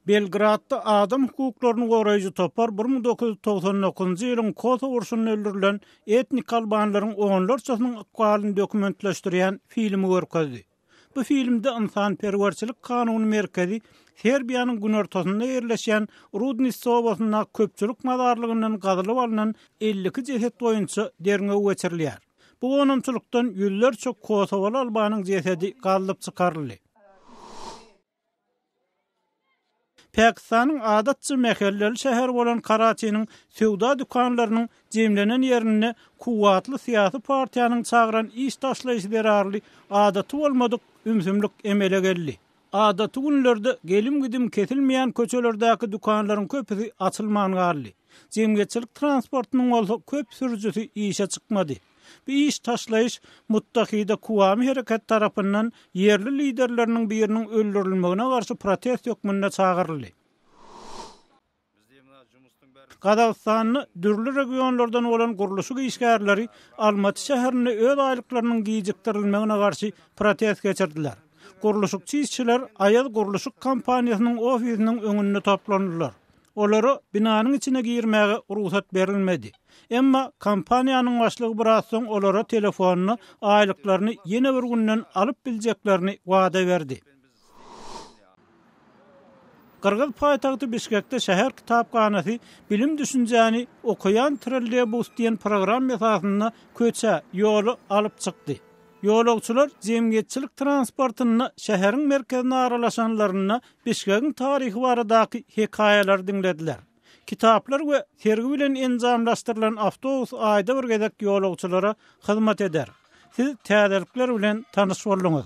Belgradda adam hukuklaryny goraýjy topar bir müň dokuz ýüz togsan dokuzynjy ýylyň Kosow urşunda öldürilen etnik albanlaryň onlarçasynyň ykbalyny dokumentleşdirýän filmi görkezdi. Bu filmde ynsanperwerçilik kanuny merkezi Serbiýanyň günortasynda ýerleşýän Rudniste obasynda köpçülik mazarlygyndan gazylyp alnan elli iki jeset boýunça derňew geçirilýär. Bu gonamçylykdan ýüzlerçe kosowaly albanyň jesedi gazylyp çykaryldy. Pakistanyň adatça mähelleli şäher bolan Karaçiniň söwda dükanlarynyň jemlenen ýerinde kuwwatly syýasy partiýanyň çagyran iş taşlaýşy zerarly adaty bolmadyk ümsümlik emele geldi. Adaty günlerde gelim-gidim kesilmeýän köçelerdäki dükanlaryň köpüsi açylman galdy. Jemgyýetçilik transportynyň bolsa köp sürüjisi işe çykmady. Bu iş taşlaýyş Muttahide Kuwami hereketi tarapyndan ýerli liderleriniň biriniň öldürilmegine garşy protest hökmünde çagyryldy. Gazagystanda dürli regionlardan bolan gurluşyk işgärleri Almaty şäherinde öz aýlyklarynyň gijikdirilmegine garşy protest geçirdiler. Gurluşykçy işçiler Aýaz gurluşyk kompaniýasynyň ofisiniň öňünde toplandylar. Olara binanyň içine girmäge rugsat berilmedi. Emma kompaniýanyň başlygy biraz soň olara telefonyna aýlyklaryny ýene bir günden alyp biljeklerini wada berdi. Gyrgyz paýtagty Bişkekde şäher kitaphanasy bilim düşünjäni Okaýan trolleýbus diýen programma esasynda köçä, ýola alyp çykdy. Ýolagçylar jemgyýetçilik transportynda şäheriň merkezine aralaşanlarynda Bişkegiň taryhy baradaky hekaýalary diňlediler. Kitaplar we sergi bilen enjamlaşdyrylan awtobus aýda bir gezek ýolagçylara hyzmat eder. Siz täzelikler bilen tanyş bolduňyz.